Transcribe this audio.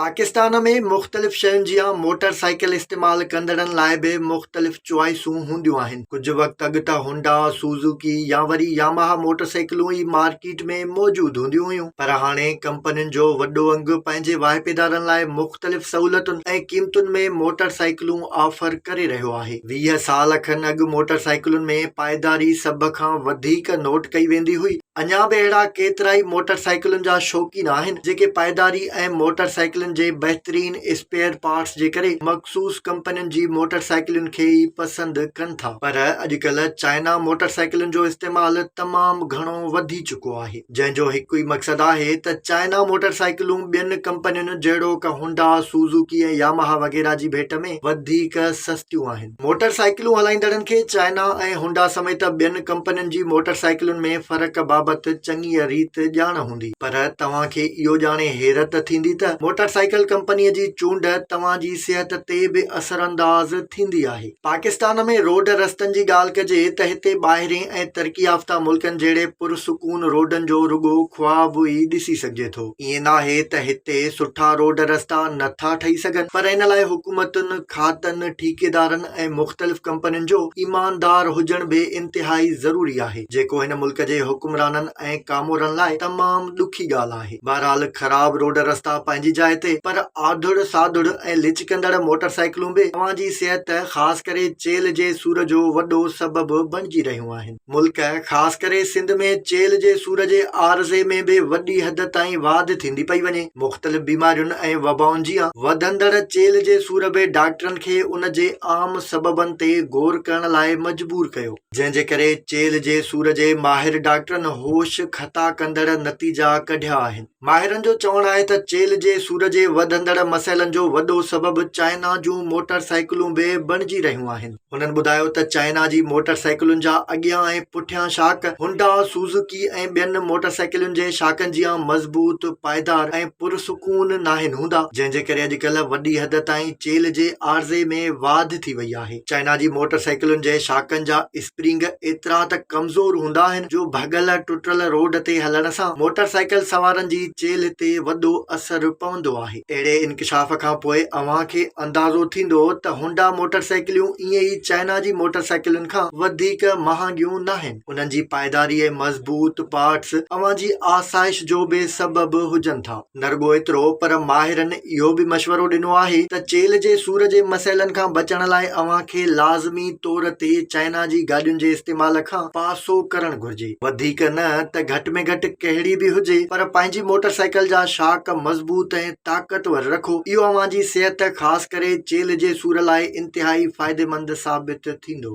پاڪستان ۾ مختلف شين جيان موٽر سائيڪل استعمال ڪندڙن لاء به مختلف چوائسون هونديون آهن ڪجهه وقت اڳ ته هونڊا سوزوڪي يا وري ياماها موٽر سائيڪلون ئي مارڪيٽ ۾ موجود هونديون هيون پر هاڻي ڪمپنين جو وڏو انگ پنهنجي واهپيدارن لاء مختلف سهولتن ۽ قيمتن ۾ موٽر سائيڪلون آفر ڪري رهيو آهي ويهه سال کن اڳ موٽر سائيڪلن ۾ پائيداري سڀ کان وڌيڪ نوٽ ڪئي ويندي هئي اڃا به اهڙا ڪيترائي موٽر سائيڪلن جا شوقين آهن جيڪي پائيداري ۽ موٽر سائيڪلن جي بهترين اسپيئر پارٽس جي ڪري مخصوص ڪمپنين جي موٽر سائيڪلن کي ئي پسند ڪن ٿا پر اڄڪلهه چائنا موٽر سائيڪلن جو استعمال تمام گهڻو وڌي چڪو آهي جنهن جو هڪ ئي مقصد آهي ته چائنا موٽر سائيڪلون ٻين ڪمپنين جهڙوڪ هونڊا، سوزوڪي ۽ ياماها وغيره جي ڀيٽ ۾ وڌيڪ سستيون آهن. موٽر سائيڪلون هلائيندڙن کي چائنا ۽ هونڊا سميت ٻين ڪمپنين جي موٽر سائيڪلن ۾ فرق بابت چڱيء ريت ڄاڻ هوندي پر توهان کي اهو ڄاڻي حيرت ٿيندي ته موٽر سائيڪل ڪمپنيء جي چونڊ توهان جي صحت تي به اثرانداز ٿيندي آهي. پاڪستان ۾ روڊ رستن جي ڳالهه ڪجي ته هتي ٻاهرين ۽ ترقي يافته ملڪن جهڙي پرسڪون روڊن جو رڳو خواب ئي ڏسي سگهجي ٿو. ائين ناهي ته هتي سٺا روڊ رستا نه ٿا ٺهي سگهن پر ان لاء حڪومتن، کاتن، ٺيڪيدارن ۽ مختلف ڪمپنين جو ايماندار هجڻ به انتهائي ضروري آهي جيڪو هن ملڪ جي حڪمرانن ۽ ڪامورن لاء تمام ڏکي ڳالهه آهي. بهرحال خراب روڊ رستا پنهنجي جاء تي پر آڌڙ ساڌڙ ۽ لچڪندڙ موٽر سائيڪلون به اوهان جي صحت خاص ڪري چيلهه جي سور جو وڏو سبب بڻجي رهيون آهن. ملڪ خاص ڪري سنڌ ۾ چيلهه جي سور جي عارضي ۾ به وڏي حد تائين واڌ ٿيندي پئي وڃي. مختلف بيمارين ۽ وبائن جيان وڌندڙ چيلهه جي سور به ڊاڪٽرن کي ان جي عام سببن تي غور ڪرڻ لاء مجبور ڪيو، جنهن جي ڪري چيلهه جي سور جي ماهر ڊاڪٽرن هوش خطا ڪندڙ نتيجا ڪڍيا آهن. ماهرن جو چوڻ آهي ته چيلهه جي سور جي وڌندڙ مسئلن جو وڏو سبب چائنا جون موٽر سائيڪلون به بڻجي رهيون آهن. هنن ٻڌايو ته چائنا جي موٽر سائيڪلن جا اڳيان ۽ پٺيان شاڪ هونڊا، سوزوڪي ۽ ٻين موٽر سائيڪلن جي شاڪن جيان مضبوط، پائيدار ۽ پرسڪون ناهن هوندا، جنهن جي ڪري اڄڪلهه وڏي حد تائين چيلهه جي عارضي ۾ واڌ ٿي وئي آهي. چائنا جي موٽر سائيڪلن جي شاڪن جا اسپرنگ ايترا ته ڪمزور هوندا آهن جو ڀڳل ٽٽل روڊ تي هلڻ سان موٽر سائيڪل سوارن جي چيلهه تي وڏو اثر پوندو آهي. اهڙي انڪشاف کان پوء اوهان کي اندازو ٿيندو ته هونڊا موٽر سائيڪليون ائين ئي چائنا جي موٽر سائيڪلن کان وڌيڪ مهانگيون ناهن. انهن جي پائيداري ۽ مضبوط پارٽس اوهان جي آسائش جو به سبب هجن ٿا. نه رڳو ايترو پر ماهرن اهو به مشورو ڏنو آهي ته چيلهه جي سور جي مسئلن کان بچڻ لاء اوهان کي لازمي طور تي چائنا جي گاڏين جي استعمال کان پاسو ڪرڻ گهرجي. هجي، وڌيڪ نه ته گهٽ ۾ گهٽ ڪهڙي به هجي پر پنهنجي موٽر سائيڪل جا شاڪ مضبوط ۽ طاقتور رکو، اهو اوهان جي صحت خاص ڪري چيلهه جي سور لاء انتهائي فائديمند ثابت ٿيندو.